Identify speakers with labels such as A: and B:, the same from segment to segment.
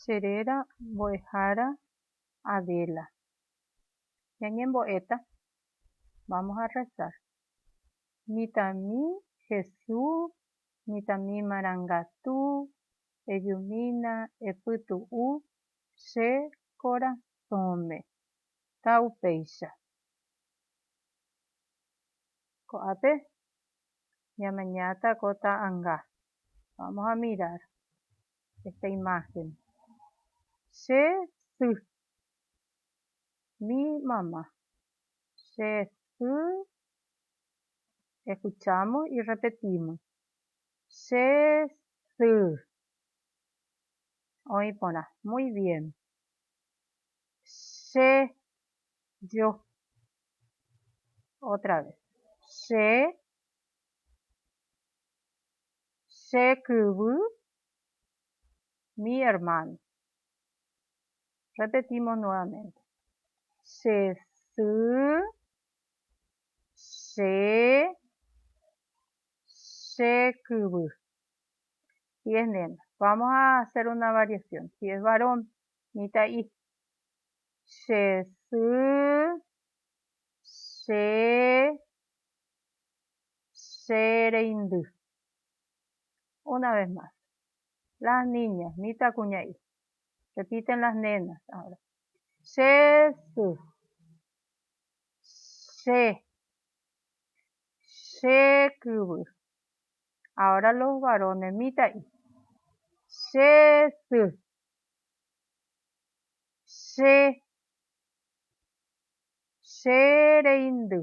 A: Che réra mbo'ehára Adela. Ñañembo'éta. Vamos a rezar. Mitãmi Jesús, mitãmi marangatu, ejumína, epytu'u che korasõme. Ta upéicha. Ko'ápe ñamañáta ko ta'anga. Vamos a mirar esta imagen. Che sy mi mamá. Che sy escuchamos y repetimos. Che sy. Oĩ porã. Muy bien. Che yo. Otra vez. Che Che kyvy, mi hermano. Repetimos nuevamente. Che sy, che, che kyvy. Si es nena, vamos a hacer una variación. Si es varón, mitã'i. Che sy, che, che reindy. Una vez más. Las niñas, mitãkuña'i. Repiten las nenas ahora. Che sy. Che. Che kyvy. Ahora los varones, mitã'i. Che sy. Che. Che reindy.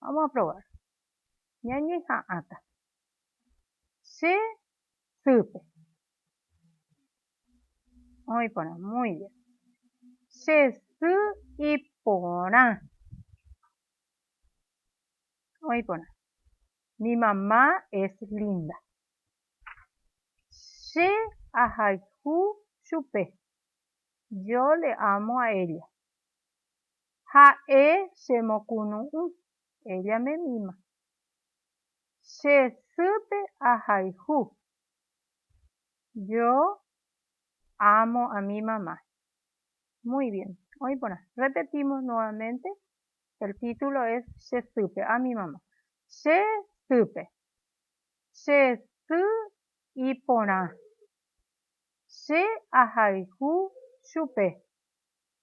A: Vamos a probar. Ñañeha'ãta. Che sýpe. Oĩ porã. Muy bien. Che sy iporã. Oĩ porã. Mi mamá es linda. Che ahayhu chupe. Yo le amo a ella. Ha'e che mokunu'ũ, ella me mima. Che sýpe ahayhu. Yo amo a mi mamá. Muy bien. Oĩ porã. Repetimos nuevamente. El título es Che sýpe, a mi mamá. Che sýpe. Che sy iporã. Che ahayhu chupe.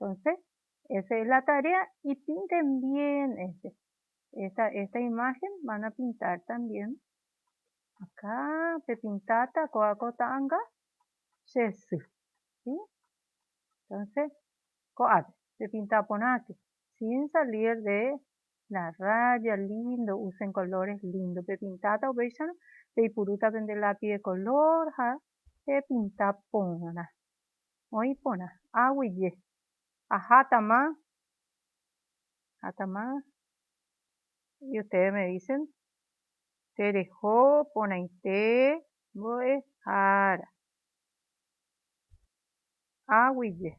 A: Entonce esa es la tarea ipinte mbien este esta esta imagen van a pintar también acá pepintáta kóva ko ta'anga che sy si entonce ko'ápe pepinta porã ke sin salir de la raya lindo usen colores lindo pepintáta upéicharõ peipurúta pende lápiz de color ha pepinta porã Oĩ porã. Aguije. Ahátama. Ahátama. Y ustedes me dicen. Tereho porãite mbo'ehára. Aguije.